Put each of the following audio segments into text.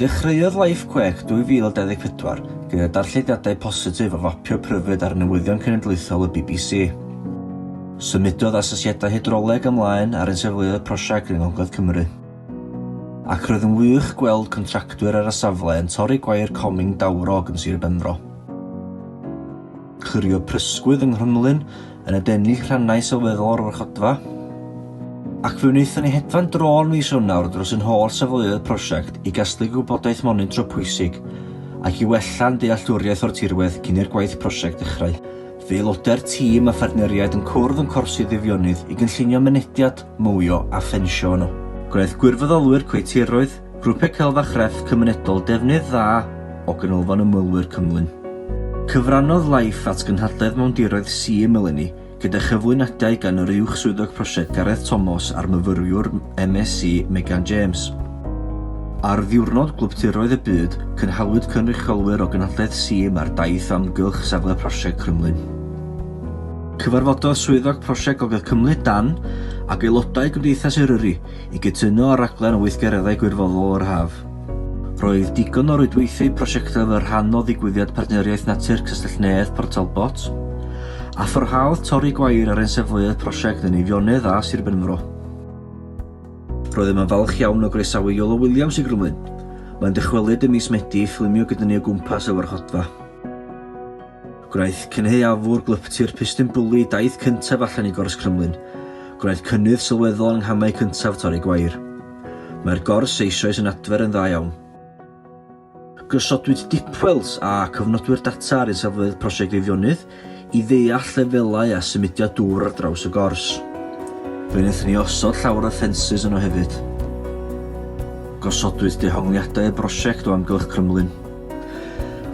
Dechreuodd Life Quake 2024 gyda darllediadau positif o fapio pryfed ar newyddion cenedlaethol y bbc. Symudodd asesiadau hydroleg ymlaen ar ein safleoedd prosiect yng Ngogledd Cymru. Ac roedd yn wych gweld contractwyr ar y safle yn torri gwair coming dawrog yn Sir Benfro. Clirio prysgwydd yng Nghrymlyn, yn adennill rhannau sylweddol o'r warchodfa, ac fe wnaethon ni hedfan drôn fis Ionawr dros ein holl safleoedd y prosiect i gasglu gwybodaeth monitro pwysig ac i wella'n dealltwriaeth o'r tirwedd cyn i'r gwaith prosiect ddechrau. Fe aelodau'r tîm a phartneriaid yn cwrdd yn Corsi Ddydd-Ionnydd i gynllunio mynediad, mowio a ffensio yno. Gwnaeth gwirfoddolwyr coetiroedd, Grwpiau Celf a Chrefft Cymunedol Defnydd dda o Ganolfan Ymwelwyr Cymlyn. Cyfrannodd Life at gynhadledd Mawndiroedd Sul eleni gyda chyflwyniadau gan yr Uwch Swyddog Prosiect Gareth Thomas a'r myfyriwr MSc Megan James. Ar Ddiwrnod Gwlyptiroedd y Byd, cynhaliwyd cynrychiolwyr o Gynhadledd Sul a'r Daith Amgylch Safle Prosiect Crymlyn. Cyfarfododd Swyddog Prosiect Gogledd Cymru, Dan, ac aelodau Gymdeithas Eryri I gytuno ar raglen o weithgareddau gwirfoddol yr haf, roedd digon o rwydweithiau prosiectau fel rhan o ddigwyddiad Partneriaeth Natur Castell Nedd Port Talbot, a pharhaodd torri gwair ar ein safleoedd prosiect yn Eifionydd a Sir Benfro. Roeddem yn falch iawn o groesawu Iolo Williams i Grymlyn. Mae'n dychwelyd ym mis Medi i ffilmio gyda ni o gwmpas y warchodfa. Gwnaeth cynhaeafwr gwlyptir pistyn bwli daith cyntaf allan i gors Crymlyn. Gwnaeth cynnydd sylweddol yng nghamau cyntaf torri gwair. Mae'r gors eisoes yn adfer yn dda iawn. Gosodwyd dipwells a cofnodwyr data ar isafleoedd Prosiect Eifionydd i ddeall lefelau a symudiad dŵr ar draws y gors. Fe wnaethon ni osod llawer o ffensys yno hefyd. Gosodwyd dehongliadau y brosiect o amgylch Crymlyn.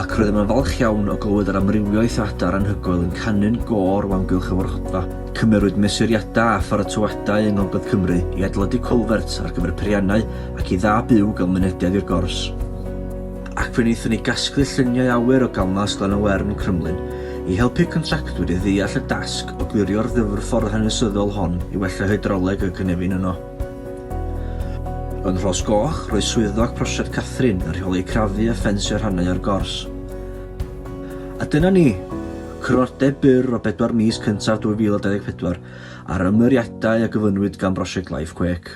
ac rydym yn falch iawn o glywed yr amrywiaeth o adar anhygoel yn canu'n gor o amgylch y fwrhydfa. Cymerwyd mesuriadau a pharatoadau yng Ngogledd Cymru i adeiladu culvert ar gyfer peiriannau ac i dda byw gael mynediad i'r gors, ac fe wnaethon ni gasglu lluniau awyr o ganfas Glan-y-wern, Crymlyn, i helpu contractwyr i ddeall y dasg o glirio'r ddyfrffordd hanesyddol hon i wella hydroleg y cynefin yno. Yn Rhos Goch, roedd Swyddog Prosiect Catherine yn rheoli crafu a ffensio rhannau o'r gors. A dyna ni! Cronodeb byr o bedwar mis cyntaf 2024 a'r ymyriadau a gyflwynwyd gan Brosiect Life Quake.